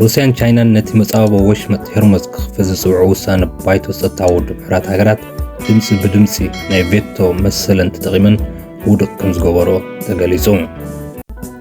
ሩስያን ቻይናን ነቲ መጻበቦ ወሽመጥ ሄርሞዝ ክኽፈት ዝጽውዑ ውሳነ ባይቶ ጸጥታ ውድብ ሕብራት ሃገራት ድምፂ ብድምፂ ናይ ቬቶ መሰለን ተጠቒመን ውድቕ ከም ዝገበሮ ተገሊጹ።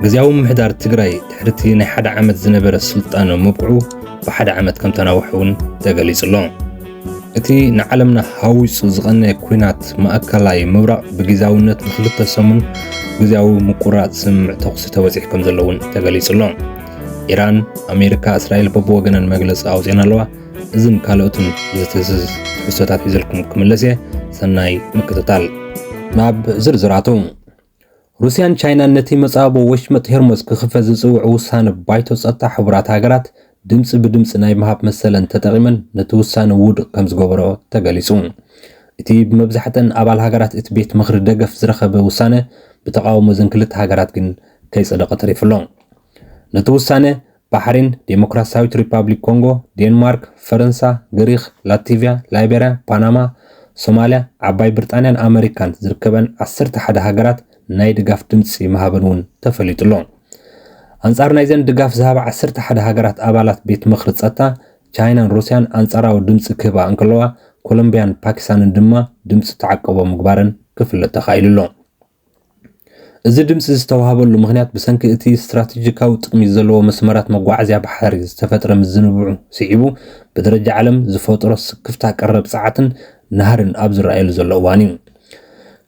ግዜያዊ ምሕዳር ትግራይ ድሕርቲ ናይ ሓደ ዓመት ዝነበረ ስልጣኑ ምብቅዑ ብሓደ ዓመት ከም ተናውሐ እውን ተገሊጹ ኣሎ። እቲ ንዓለምና ሃዊጹ ዝቐነየ ኲናት ማእከላይ ምብራቕ ብጊዛውነት ንክልተ ሰሙን ግዝያዊ ምቁራጽ ስምምዕ ተኹሲ ተበጺሑ ከም ዘሎ እውን ተገሊጹ ኣሎ። ኢራን፣ ኣሜሪካ፣ እስራኤል በብወገነን መግለጺ ኣውጺኤን ኣለዋ። እዝን ካልኦትን ዝትህዝዝ ትሕዝቶታት ሒዘልኩም ክምለስ እየ። ሰናይ ምክትታል። ናብ ዝርዝራቱ ሩስያን ቻይናን ነቲ መጻብቦ ወሽመጥ ሄርሞዝ ክኽፈት ዝጽውዕ ውሳነ ባይቶ ጸጥታ ሕቡራት ሃገራት ድምጺ ብድምጺ ናይ ምሃብ መሰለን ተጠቒመን ነቲ ውሳነ ውዱቕ ከም ዝገበርኦ ተገሊጹ። እቲ ብመብዛሕትኣን ኣባል ሃገራት እቲ ቤት ምኽሪ ደገፍ ዝረኸበ ውሳነ ብተቓውሞ እዘን ክልተ ሃገራት ግን ከይጸደቐ ተሪፉ ኣሎ። ነቲ ውሳነ ባሕሪን፣ ዴሞክራሲያዊት ሪፓብሊክ ኮንጎ፣ ዴንማርክ፣ ፈረንሳ፣ ግሪኽ፣ ላቲቭያ፣ ላይበርያ፣ ፓናማ፣ ሶማልያ፣ ዓባይ ብርጣንያን ኣመሪካን ዝርከበን ዓሰርተ ሓደ ሃገራት ናይ ድጋፍ ድምጺ ምሃበን እውን ተፈሊጡ'ሎ። ኣንጻር ናይዘን ድጋፍ ዝሃባ ዓሰርተ ሓደ ሃገራት ኣባላት ቤት ምኽሪ ጸጥታ፣ ቻይናን ሩስያን ኣንጻራዊ ድምጺ ክህባ እንከለዋ፣ ኮሎምብያን ፓኪስታንን ድማ ድምጺ ተዓቀቦ ምግባረን ክፍለጥ ተኻኢሉ'ሎ። እዚ ድምጺ ዝተዋህበሉ ምኽንያት ብሰንኪ እቲ ስትራቴጂካዊ ጥቕሚ ዘለዎ መስመራት መጓዓዝያ ባሕሪ ዝተፈጥረ ምዝንብዑ ስዒቡ ብደረጃ ዓለም ዝፈጠሮ ስክፍታ ቀረብ ጸዓትን ናህሪን ኣብ ዝረኣየሉ ዘሎ እዋን'ዩ።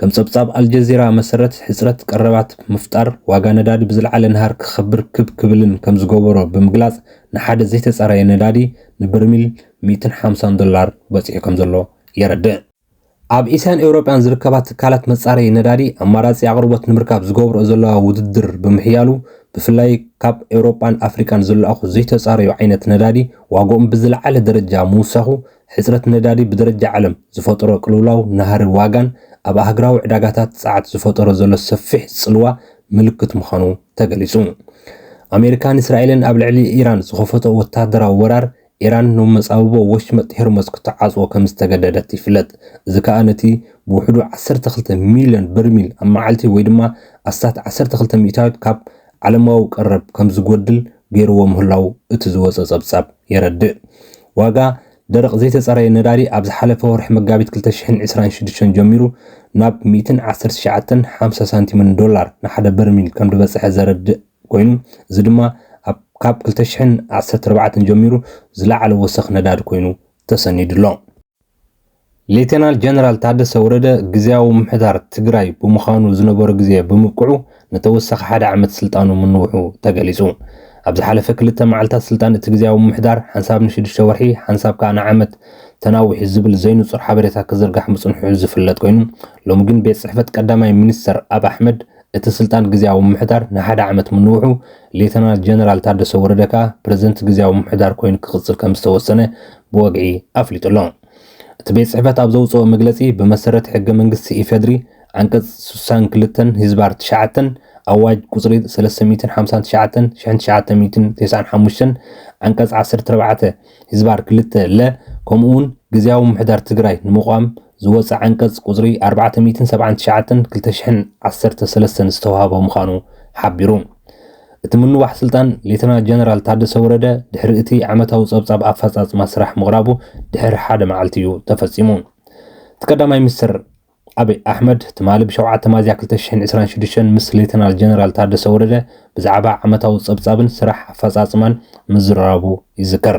ከም ጸብጻብ ኣልጀዚራ መሰረት፣ ሕጽረት ቀረባት ምፍጣር፣ ዋጋ ነዳዲ ብዝለዓለ ናህሪ ክኸብር ክብ ክብልን ከም ዝገበሮ ብምግላጽ ንሓደ ዘይተጻረየ ነዳዲ ንበርሚል ሚእትን ሓምሳን ዶላር በጺሑ ከም ዘሎ የረድእ። ኣብ ኤስያን ኤውሮጳን ዝርከባ ትካላት መጻረዪ ነዳዲ ኣማራጺ ኣቕርቦት ንምርካብ ዝገብርኦ ዘለዋ ውድድር ብምሕያሉ ብፍላይ ካብ ኤውሮጳን ኣፍሪቃን ዝለኣኹ ዘይተጻረዩ ዓይነት ነዳዲ ዋግኦም ብዝለዓለ ደረጃ ምውሳኹ ሕጽረት ነዳዲ ብደረጃ ዓለም ዝፈጠሮ ቅልውላው ናህሪ ዋጋን ኣብ ኣህግራዊ ዕዳጋታት ጸዓት ዝፈጠሮ ዘሎ ሰፊሕ ጽልዋ ምልክት ምዃኑ ተገሊጹ። ኣሜሪካን እስራኤልን ኣብ ልዕሊ ኢራን ዝኸፈትኦ ወተሃደራዊ ወራር ኢራን ን መጻብቦ ወሽመጥ ሄርሞዝ ክትዓጽዎ ከም ዝተገደደት ይፍለጥ፣ እዚ ከኣ ነቲ ብውሕዱ ዓሰርተ ክልተ ሚልዮን በርሚል ኣብ መዓልቲ ወይ ድማ ኣስታት ዓሰርተ ክልተ ሚእታዊት ካብ ዓለማዊ ቀረብ ከም ዝጎድል ገይርዎ ምህላዉ እቲ ዝወጸ ጸብጻብ የረድእ። ዋጋ ደረቕ ዘይተጸረየ ነዳዲ ኣብ ዝሓለፈ ወርሒ መጋቢት ክልተ ሽሕን ዕስራን ሽዱሽተን ጀሚሩ ናብ ሚእትን ዓሰርተ ትሽዓተን ሓምሳ ሳንቲምን ዶላር ንሓደ በርሚል ከም ድበጽሐ ዘረድእ ኮይኑ እዚ ድማ ኣብ ካብ ክልተ ሽሕን ዓሰርተ ኣርባዕተን ጀሚሩ ዝለዓለ ወሰኽ ነዳዲ ኮይኑ ተሰኒዱ ኣሎ። ሌተናል ጀነራል ታደሰ ወረደ ግዝያዊ ምምሕዳር ትግራይ ብምዃኑ ዝነበሮ ግዜ ብምብቅዑ ንተወሳኺ ሓደ ዓመት ስልጣኑ ምንውሑ ተገሊፁ። ኣብ ዝሓለፈ ክልተ መዓልታት ስልጣን እቲ ግዝያዊ ምምሕዳር ሓንሳብ ንሽዱሽተ ወርሒ ሓንሳብ ከዓ ንዓመት ተናዊሑ ዝብል ዘይንፁር ሓበሬታ ክዝርጋሕ ምፅንሑ ዝፍለጥ ኮይኑ ሎሚ ግን ቤት ፅሕፈት ቀዳማይ ሚኒስትር ኣብ ኣሕመድ እቲ ስልጣን ግዝያዊ ምምሕዳር ንሓደ ዓመት ምንውሑ፣ ሌተናል ጀነራል ታደሰ ወረደ ከኣ ፕረዚደንት ግዝያዊ ምምሕዳር ኮይኑ ክቕጽል ከምዝተወሰነ ብወግዒ ኣፍሊጡ ኣሎ። እቲ ቤት ጽሕፈት ኣብ ዘውጽኦ መግለጺ፣ ብመሰረት ሕገ መንግስቲ ኢፌድሪ ዓንቀጽ ስሳን ክልተን ህዝባር ትሽዓተን ኣዋጅ ቁጽሪ ሰለስተ ሚእትን ሓምሳን ትሽዓተን ሽሕን ትሽዓተ ሚእትን ቴስዓን ሓሙሽተን ዓንቀጽ ዓሰርተ ኣርባዕተ ህዝባር ክልተ ለ ከምኡ'ውን ግዝያዊ ምምሕዳር ትግራይ ንምቛም ዝወጸ ዓንቀጽ ቁጽሪ ኣርባዕተ ሚእትን ሰብዓን ትሽዓተን ክልተ ሽሕን ዓሰርተ ሰለስተን ዝተዋህቦ ምዃኑ ሓቢሩ። እቲ ምንዋሕ ስልጣን ሌተና ጀነራል ታደሰ ወረደ ድሕሪ እቲ ዓመታዊ ጸብጻብ ኣፈጻጽማ ስራሕ ምቕራቡ ድሕሪ ሓደ መዓልቲ እዩ ተፈጺሙ። እቲ ቀዳማይ ሚኒስተር ኣብይ ኣሕመድ ትማሊ ብሸውዓተ ሚያዝያ ክልተ ሽሕን ዕስራን ሽዱሽተን ምስ ሌተናል ጀነራል ታደሰ ወረደ ብዛዕባ ዓመታዊ ጸብጻብን ስራሕ ኣፈጻጽማን ምዝርራቡ ይዝከር።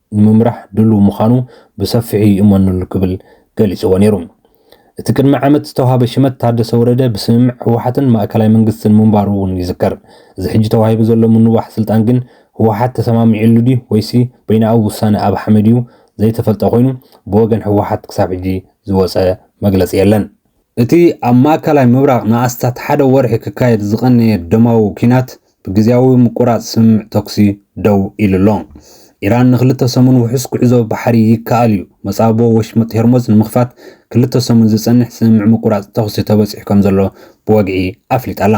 ንምምራሕ ድሉው ምዃኑ ብሰፊሑ ይእመነሉ ክብል ገሊጽዎ ነይሩ። እቲ ቅድሚ ዓመት ዝተዋህበ ሽመት ታደሰ ወረደ ብስምምዕ ህወሓትን ማእከላይ መንግስትን ምንባሩ እውን ይዝከር። እዚ ሕጂ ተዋሂቡ ዘሎ ምንዋሕ ስልጣን ግን ህወሓት ተሰማሚዕሉ ድዩ ወይሲ በይናኣዊ ውሳነ ኣብ ሓመድ እዩ ዘይተፈልጠ ኮይኑ ብወገን ህወሓት ክሳብ ሕጂ ዝወጸ መግለጺ የለን። እቲ ኣብ ማእከላይ ምብራቕ ንኣስታት ሓደ ወርሒ ክካየድ ዝቐነየ ደማዊ ኲናት ብግዝያዊ ምቁራጽ ስምምዕ ተኩሲ ደው ኢሉ'ሎ። ኢራን ንክልተ ሰሙን ውሑስ ጉዕዞ ባሕሪ ይከኣል እዩ መጻብቦ ወሽመጥ ሄርሞዝ ንምኽፋት ክልተ ሰሙን ዝጸንሕ ስምምዕ ምቁራጽ ተኹሲ ተበጺሑ ከምዘሎ ብወግዒ ኣፍሊጣ'ላ።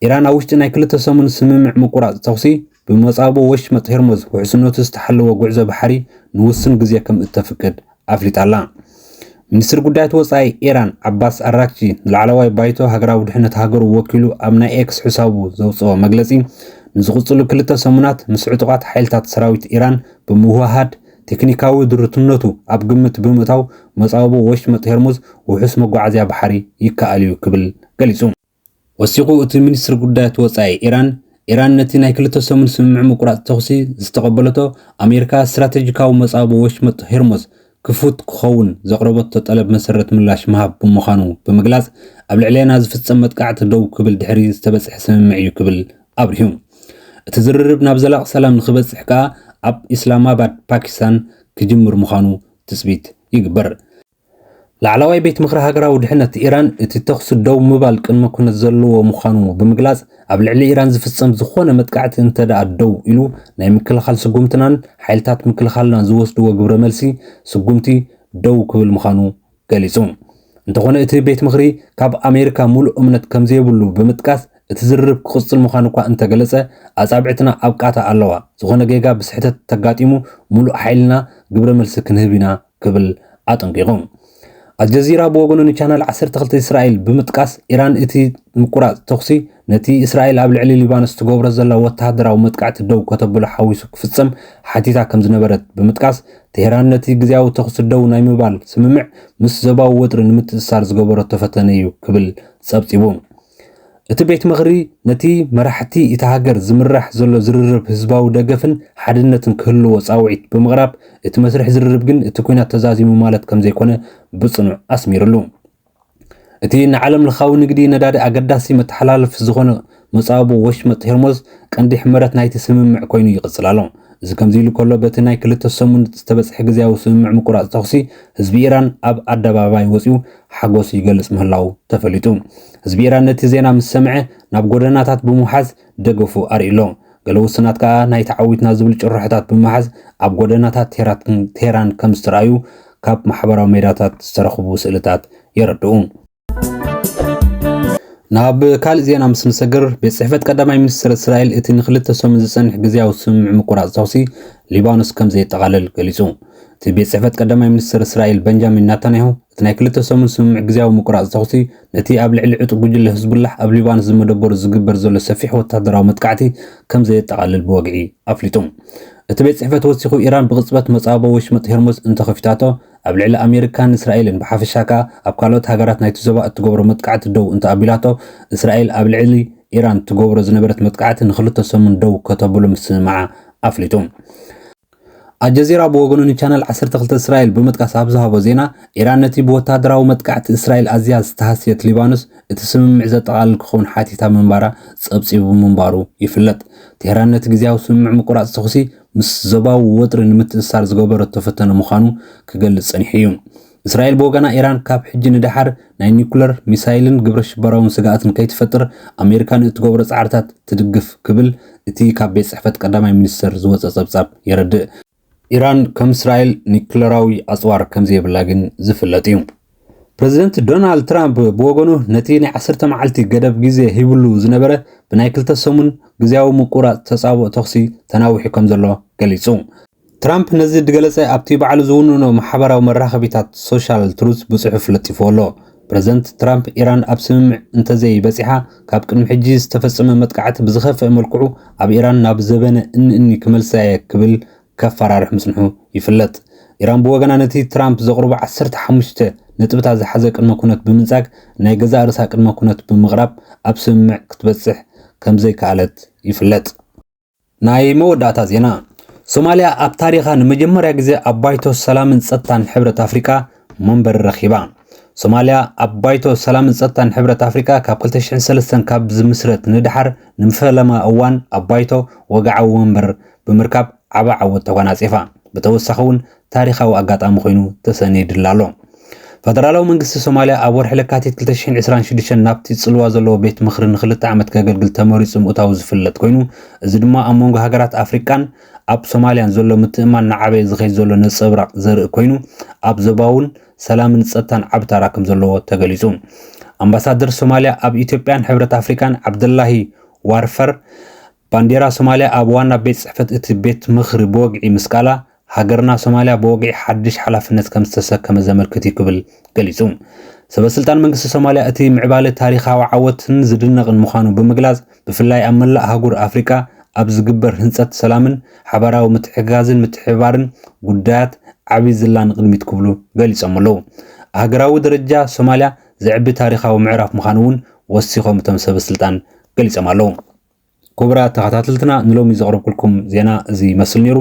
ኢራን ኣብ ውሽጢ ናይ ክልተ ሰሙን ስምምዕ ምቁራጽ ተኹሲ ብመጻብቦ ወሽመጥ ሄርሞዝ ውሕስነቱ ዝተሓለወ ጉዕዞ ባሕሪ ንውሱን ግዜ ከምእተፍቅድ ኣፍሊጣ'ላ። ሚኒስትሪ ጉዳያት ወጻኢ ኢራን ዓባስ ኣራግቺ ንላዕለዋይ ባይቶ ሃገራዊ ድሕነት ሃገሩ ወኪሉ ኣብ ናይ ኤክስ ሕሳቡ ዘውጽኦ መግለጺ ንዝቕጽሉ ክልተ ሰሙናት ምስ ዕጡቓት ሓይልታት ሰራዊት ኢራን ብምውህሃድ ቴክኒካዊ ድሩትነቱ ኣብ ግምት ብምእታው መጻብቦ ወሽመጥ ሄርሙዝ ውሑስ መጓዓዝያ ባሕሪ ይከኣል'ዩ ክብል ገሊጹ። ወሲኹ እቲ ሚኒስትሪ ጉዳያት ወጻኢ ኢራን፣ ኢራን ነቲ ናይ ክልተ ሰሙን ስምምዕ ምቁራጽ ተኹሲ ዝተቐበለቶ፣ ኣሜሪካ ስትራተጂካዊ መጻብቦ ወሽመጥ ሄርሞዝ ክፉት ክኸውን ዘቕረበቶ ጠለብ መሰረት ምላሽ ምሃብ ብምዃኑ ብምግላጽ፣ ኣብ ልዕሌና ዝፍጸም መጥቃዕቲ ደው ክብል ድሕሪ ዝተበጽሐ ስምምዕ'ዩ ክብል ኣብሪሁ። እቲ ዝርርብ ናብ ዘላቒ ሰላም ንኽበጽሕ ከኣ ኣብ ኢስላማባድ፣ ፓኪስታን ክጅምር ምዃኑ ትጽቢት ይግበር። ላዕላዋይ ቤት ምኽሪ ሃገራዊ ድሕነት ኢራን እቲ ተኹሲ ደው ምባል ቅድመ ኩነት ዘለዎ ምዃኑ ብምግላጽ ኣብ ልዕሊ ኢራን ዝፍጸም ዝኾነ መጥቃዕቲ እንተድኣ ደው ኢሉ ናይ ምክልኻል ስጉምትናን ሓይልታት ምክልኻልና ዝወስድዎ ግብረ መልሲ ስጉምቲ ደው ክብል ምዃኑ ገሊጹ። እንተኾነ እቲ ቤት ምኽሪ ካብ ኣሜሪካ ሙሉእ እምነት ከምዘይብሉ ብምጥቃስ እቲ ዝርርብ ክቕጽል ምዃኑ እኳ እንተገለጸ ኣጻብዕትና ኣብ ቃታ ኣለዋ፣ ዝኾነ ጌጋ ብስሕተት ተጋጢሙ ሙሉእ ሓይልና ግብረ መልሲ ክንህብ ኢና ክብል ኣጠንቂቑ። ኣልጀዚራ ብወገኑ ንቻናል ዓሰርተ ክልተ እስራኤል ብምጥቃስ ኢራን እቲ ምቁራጽ ተኹሲ ነቲ እስራኤል ኣብ ልዕሊ ሊባኖስ ትገብሮ ዘላ ወተሃደራዊ መጥቃዕቲ ደው ከተብሎ ሓዊሱ ክፍጸም ሓቲታ ከም ዝነበረት ብምጥቃስ ቴህራን ነቲ ግዝያዊ ተኹሲ ደው ናይ ምባል ስምምዕ ምስ ዞባዊ ወጥሪ ንምትእስሳር ዝገበረቶ ፈተነ እዩ ክብል ጸብጺቡ። እቲ ቤት ምኽሪ ነቲ መራሕቲ እታ ሃገር ዝምራሕ ዘሎ ዝርርብ ህዝባዊ ደገፍን ሓድነትን ክህልዎ ጻውዒት ብምቕራብ፣ እቲ መስርሕ ዝርርብ ግን እቲ ኲናት ተዛዚሙ ማለት ከምዘይኮነ ብጽኑዕ ኣስሚርሉ። እቲ ንዓለምለኻዊ ንግዲ ነዳዲ ኣገዳሲ መተሓላለፊ ዝኾነ መጻብቦ ወሽመጥ ሄርሞዝ ቀንዲ ሕመረት ናይቲ ስምምዕ ኮይኑ ይቕጽል ኣሎ። እዚ ከምዚ ኢሉ ከሎ በቲ ናይ ክልተ ሰሙን ዝተበጽሐ ግዝያዊ ስምምዕ ምቁራጽ ተኹሲ ህዝቢ ኢራን ኣብ ኣደባባይ ወጺኡ ሓጎስ ይገልጽ ምህላዉ ተፈሊጡ። ህዝቢ ኢራን ነቲ ዜና ምስ ሰምዐ ናብ ጎደናታት ብምውሓዝ ደገፉ ኣርኢሎ። ገለ ውሱናት ከኣ ናይ ተዓዊትና ዝብል ጭርሖታት ብምሓዝ ኣብ ጎደናታት ቴህራን ከም ዝተራእዩ ካብ ማሕበራዊ ሜዳታት ዝተረኽቡ ስእልታት የረድኡ። ናብ ካልእ ዜና ምስ ንሰግር ቤት ጽሕፈት ቀዳማይ ሚኒስትር እስራኤል እቲ ንክልተ ሰሙን ዝጸንሕ ግዜያዊ ስምምዕ ምቁራጽ ተኹሲ ሊባኖስ ከም ዘየጠቓልል ገሊጹ። እቲ ቤት ጽሕፈት ቀዳማይ ሚኒስትር እስራኤል በንጃሚን ናታንያሁ እቲ ናይ ክልተ ሰሙን ስምምዕ ግዝያዊ ምቁራጽ ተኹሲ፣ ነቲ ኣብ ልዕሊ ዕጡቕ ጉጅለ ህዝቡላህ ኣብ ሊባኖስ ዝመደበሩ ዝግበር ዘሎ ሰፊሕ ወተሃደራዊ መጥቃዕቲ ከም ዘየጠቓልል ብወግዒ ኣፍሊጡ። እቲ ቤት ጽሕፈት ወሲኹ፣ ኢራን ብቕጽበት መጻብቦ ወሽመጥ ሄርሞዝ እንተ ኸፊታቶ፣ ኣብ ልዕሊ ኣሜሪካን እስራኤልን ብሓፈሻ ከኣ ኣብ ካልኦት ሃገራት ናይቲ ዞባ እትገብሮ መጥቃዕቲ ደው እንተ ኣቢላቶ፣ እስራኤል ኣብ ልዕሊ ኢራን ትገብሮ ዝነበረት መጥቃዕቲ ንኽልተ ሰሙን ደው ከተብሎ ምስምማዓ ኣፍሊጡ። ኣልጀዚራ ብወገኑ ንቻነል ዓሰርተ ክልተ እስራኤል ብምጥቃስ ኣብ ዝሃቦ ዜና፣ ኢራን ነቲ ብወተሃደራዊ መጥቃዕቲ እስራኤል ኣዝያ ዝተሃስየት ሊባኖስ እቲ ስምምዕ ዘጠቓልል ክኸውን ሓቲታ ምንባራ ጸብጺቡ ምንባሩ ይፍለጥ። ቴህራን ነቲ ግዝያዊ ስምምዕ ምቁራጽ ተኹሲ ምስ ዞባዊ ወጥሪ ንምትእስሳር ዝገበረቶ ፈተነ ምዃኑ ክገልጽ ጸኒሑ እዩ። እስራኤል ብወገና ኢራን ካብ ሕጂ ንደሓር ናይ ኒኩለር፣ ሚሳይልን ግብረ ሽበራውን ስግኣት ንከይትፈጥር ኣሜሪካ ንእትገብሮ ጻዕርታት ትድግፍ ክብል እቲ ካብ ቤት ጽሕፈት ቀዳማይ ሚኒስተር ዝወጸ ጸብጻብ የረድእ። ኢራን ከም እስራኤል ኒኩለራዊ ኣጽዋር ከምዘይብላ ግን ዝፍለጥ እዩ። ፕረዚደንት ዶናልድ ትራምፕ ብወገኑ ነቲ ናይ ዓሰርተ መዓልቲ ገደብ ግዜ ሂብሉ ዝነበረ ብናይ ክልተ ሰሙን ግዝያዊ ምቁራጽ ተጻብኦ ተኹሲ ተናዊሑ ከምዘሎ ገሊጹ። ትራምፕ ነዚ ድገለጸ ኣብቲ ባዕሉ ዝውንኖ ማሕበራዊ መራኸቢታት ሶሻል ትሩዝ ብጽሑፍ ለጢፍዎ ኣሎ። ፕረዚደንት ትራምፕ ኢራን ኣብ ስምምዕ እንተዘይበጺሓ ካብ ቅድሚ ሕጂ ዝተፈጸመ መጥቃዕቲ ብዝኸፍኣ መልክዑ ኣብ ኢራን ናብ ዘበነ እኒ-እኒ ክመልሳ'የ ክብል ከፈራርሕ ምጽንሑ ይፍለጥ። ኢራን ብወገና ነቲ ትራምፕ ዘቕርቦ ዓሰርተ ሓሙሽተ ነጥብታት ዝሓዘ ቅድመ ኩነት ብምንጻግ ናይ ገዛእ ርእሳ ቅድመ ኩነት ብምቕራብ ኣብ ስምምዕ ክትበጽሕ ከምዘይከኣለት ይፍለጥ። ናይ መወዳእታ ዜና ሶማልያ ኣብ ታሪኻ ንመጀመርያ ግዜ ኣብ ባይቶ ሰላምን ጸጥታን ሕብረት ኣፍሪቃ መንበሪ ረኺባ። ሶማልያ ኣብ ባይቶ ሰላምን ጸጥታን ሕብረት ኣፍሪቃ ካብ 2003 ካብ ዝምስረት ንደሓር ንፈለማ እዋን ኣብ ባይቶ ወግዓዊ ወንበር ብምርካብ ዓቢ ዓወት ተጓናጺፋ። ብተወሳኺ እውን ታሪኻዊ ኣጋጣሚ ኮይኑ ተሰኒድላ ኣሎ። ፈደራላዊ መንግስቲ ሶማልያ ኣብ ወርሒ ለካቲት ክልተ ሽሕን ዕስራን ሽዱሽተን ናብቲ ጽልዋ ዘለዎ ቤት ምኽሪ ንኽልተ ዓመት ከገልግል ተመሪጹ ምእታዉ ዝፍለጥ ኮይኑ እዚ ድማ ኣብ መንጎ ሃገራት ኣፍሪቃን ኣብ ሶማልያን ዘሎ ምትእምማን እናዓበየ ዝኸይድ ዘሎ ነጸብራቕ ዘርኢ ኮይኑ ኣብ ዞባውን ሰላምን ጸጥታን ዓቢ ታራ ከም ዘለዎ ተገሊጹ። ኣምባሳደር ሶማልያ ኣብ ኢትዮጵያን ሕብረት ኣፍሪቃን ዓብደላሂ ዋርፈር ባንዴራ ሶማልያ ኣብ ዋና ቤት ጽሕፈት እቲ ቤት ምኽሪ ብወግዒ ምስቃላ፣ ሃገርና ሶማልያ ብወግዒ ሓድሽ ሓላፍነት ከምዝተሰከመት ዘመልክት እዩ ክብል ገሊጹ። ሰበስልጣን መንግስቲ ሶማልያ እቲ ምዕባለ ታሪኻዊ ዓወትን ዝድነቕን ምዃኑ ብምግላጽ፣ ብፍላይ ኣብ መላእ ኣህጉር ኣፍሪቃ ኣብ ዝግበር ህንጸት ሰላምን ሓባራዊ ምትሕግጋዝን ምትሕብባርን ጉዳያት ዓቢ ዝላ ንቕድሚት ክብሉ ገሊጾም ኣለዉ። ኣህገራዊ ደረጃ ሶማልያ ዘዕቢ ታሪኻዊ ምዕራፍ ምዃኑ'ውን ወሲኾም እቶም ሰበስልጣን ገሊጾም ኣለዉ። ክቡራት ተኸታተልትና ንሎሚ ዘቕረብኩልኩም ዜና እዚ ይመስል ነይሩ።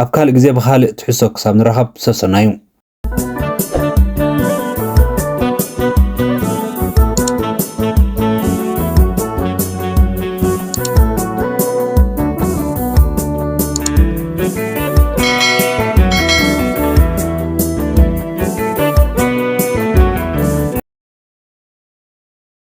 ኣብ ካልእ ግዜ ብኻልእ ትሕሶ ክሳብ ንራኸብ ሰሰናዩ